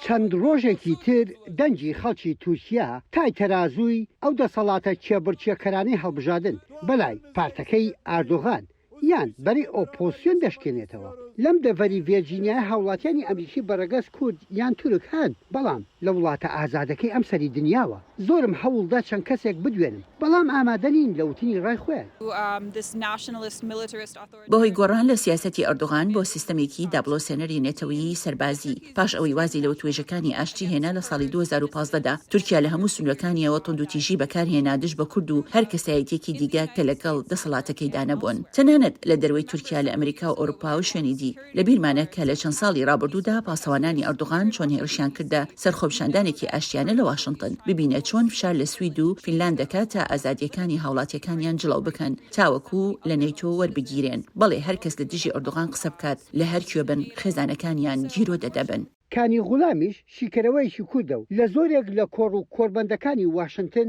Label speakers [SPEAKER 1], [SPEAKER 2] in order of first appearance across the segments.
[SPEAKER 1] چەند ڕۆژێکی تر دەنگی خەڵکی تورکیا تای تەرازووی ئەو دەسەڵاتە کێبڕکێکەرانەی هەڵبژادن بەلای پارتەکەی ئاردۆغان یان بەرەی ئۆپۆزسیۆن دەشکێنێتەوە. لەم دەڤەری ڤێرجینیایە هاوڵاتیانی ئەمریکی بە ڕەگەز کورد یان تورک هەن، بەڵام لە وڵاتە ئازادەکەی ئەم سەری دنیاوە زۆرم هەوڵ دا چەند کەسێک بدوێنم، بەڵام ئامادە نین لە وتنی ڕای خۆیان.
[SPEAKER 2] بەهۆی گۆڕان لە سیاسەتی ئەردۆغان بۆ سیستەمێکی دابڵۆسێنەری نەتەوەیی سەربازی، پاش ئەوەی وازی لە وتوێژەکانی ئاشتی هێنا لە ساڵی دوو هەزار و پازدە دا، تورکیا لە هەموو سنوورەکانییەوە توندوتیژی بەکارهێنا دژ بە کورد و هەر کەسایەتییەکی دیگە کە لەگەڵ دەسەڵاتەکەیدا نەبوون. تەنانەت لە دەروەی تورکیا لە ئەمریکا و ئەوروپا و شوێنی دی. لەبیرمانە کە لە چەند ساڵی ڕابردوودا پاسەوانانی ئەردۆغان چۆن هێڕشیان کردە سەرخۆپیشاندانێکی ئاشتیانە لە واشنتن، ببینە چۆن فشار لە سوید و فینلاند دەکات تا ئازادییەکانی هاوڵاتییەکانیان جڵەو بکەن تاوەکو لە نەیتۆ وەربگیرێن، بەڵێ هەر کەس لە دژی ئەردۆغان قسە بکات لە هەر کوێ بن خێزانەکانیان گیرۆدە دەبن. کانی غولامیش
[SPEAKER 1] شیکەرەوەیەکی کوردە و لە زۆرێک لە کۆڕ و کۆربەندەکانی واشنتن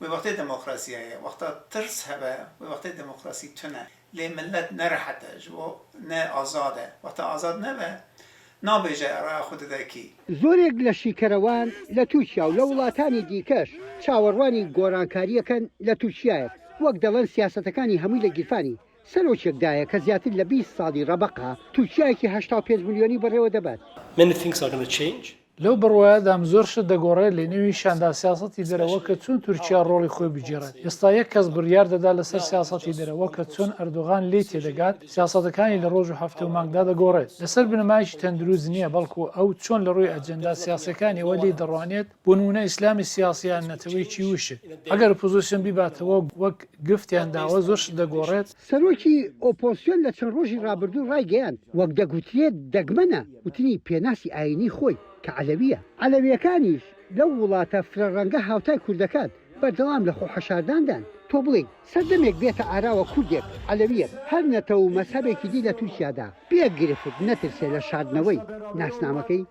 [SPEAKER 3] وەی وەختەی دەمۆکڕاسیایە وەختە تڕس هەبە وەی وەختەی دەمۆکڕاسی تونە لەی مللەت نە رەحەتە ژوو نە ئازادە وەختە ئازاد نەبە نابێژە ئەڕا خوددەکی. زۆرێک لە
[SPEAKER 1] شیکەرەوان لە تورکیا و لە وڵاتانی دیکەش چاوەڕوانی گۆڕانکارییەکەن لە تورکیایەک وەک دەڵێن سیاسەتەکانی هەمووی لە گیرفانی سەرۆکێک دایە کە زیاتر لە بیست ساڵی ڕەبەقە تورکیایەکی هەشتا و پێنج ملیۆنی بەڕێوە دەبات. Many things are gonna change.
[SPEAKER 4] لەو بڕوایەدام زۆر شت دەگۆڕێت لەنێوی شاندا سیاسەتی دەرەوە کە چۆن تورکیا ڕۆڵی خۆی بگێڕێت ئێستا یەک کەس بڕیار دەدات لەسەر سیاسەتی دەرەوە کە چۆن ئەردۆغان لێی تێدەگات سیاسەتەکانی لە ڕۆژ و هەفتە و مانگدا دەگۆڕێت لەسەر بنەمایەکی تەندروست نییە بەڵکو ئەو چۆن لە ڕووی ئەجێندا سیاسیەکانیەوە لێی دەڕوانێت بۆ نمونە ئیسلامی سیاسی یان نەتەوەیەکی وشک ئەگەر ئۆپۆزسیۆن بیباتەوە وەک گفتیان داوە زۆر شت دەگۆڕێت. سەرۆکی
[SPEAKER 1] ئۆپۆزسیۆن لە چەند ڕۆژی ڕابردوو ڕایگەیاند وەک دەگوترێت دەگمەنە، وتنی پێناسی ئایینیی خۆی کە عەلەوییە. عەلەوییەکانیش لەو وڵاتە فرە ڕەنگە هاوتای کوردەکان، بەردەوام لە خۆحەشارداندان. تۆ بڵێی سەردەمێک بێتە ئاراوە کوردێک، عەلەوییەک، هەر نەتەو و مەزهەبێکی دی لە تورکیادا، بێ گرفت نەترسێ لە شاردنەوەی ناسنامەکەی؟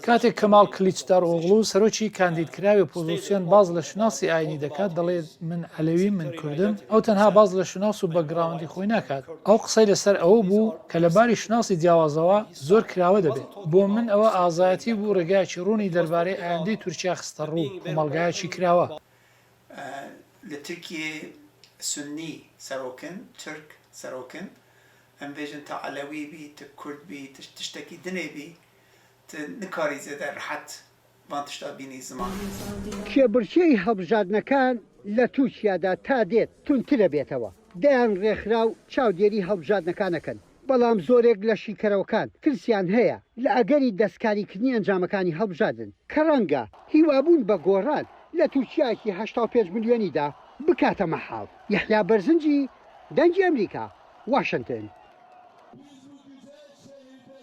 [SPEAKER 4] کاتێک کەماڵ کلیچدارئۆغڵو، سەرۆکی کاندیدکراوی ئۆپۆزسیۆن باس لە شوناسی ئایینی دەکات، دەڵێت، من عەلەویم، من کوردم، ئەو تەنها باس لە شوناس و بەکگراوندی خۆی ناکات. ئەو قسەی لەسەر ئەوە بوو کە لە باری شوناسی جیاوازەوە زۆر کراوە دەبێت. بۆ من ئەوە ئازایەتی بوو ڕێگایەکی ڕوونی دەربارەی ئایندەی تورکیا خستەڕوو، کۆمەڵگایەکی کراوە.
[SPEAKER 3] لە ترکییە سوننی سەرۆکن، تورک سەرۆکن، ئەمبێژن تا عەلەوی بیت، کورد بیت، تشتەکی دنێ بی، تو نکاری زێدە رەحەت ڤان تشتا بینی
[SPEAKER 1] زمان. کێبڕکێی هەڵبژاردنەکان لە تورکیادا تا دێت توندترەبێتەوە، دەیان ڕێکخراو چاودێری هەڵبژاردنەکان ئەکەن، بەڵام زۆرێک لە شیکەرەوەکان ترسیان هەیە لە ئەگەری دەستکاریکردنی ئەنجامەکانی هەڵبژاردن کە ڕەنگە هیوابوون بە گۆڕان لە تورکیایەکی هەشتا و پێنج ملیۆنیدا بکاتە مەحاڵ. یەحیا بەرزنجی، دەنگی ئەمریکا، واشنتن.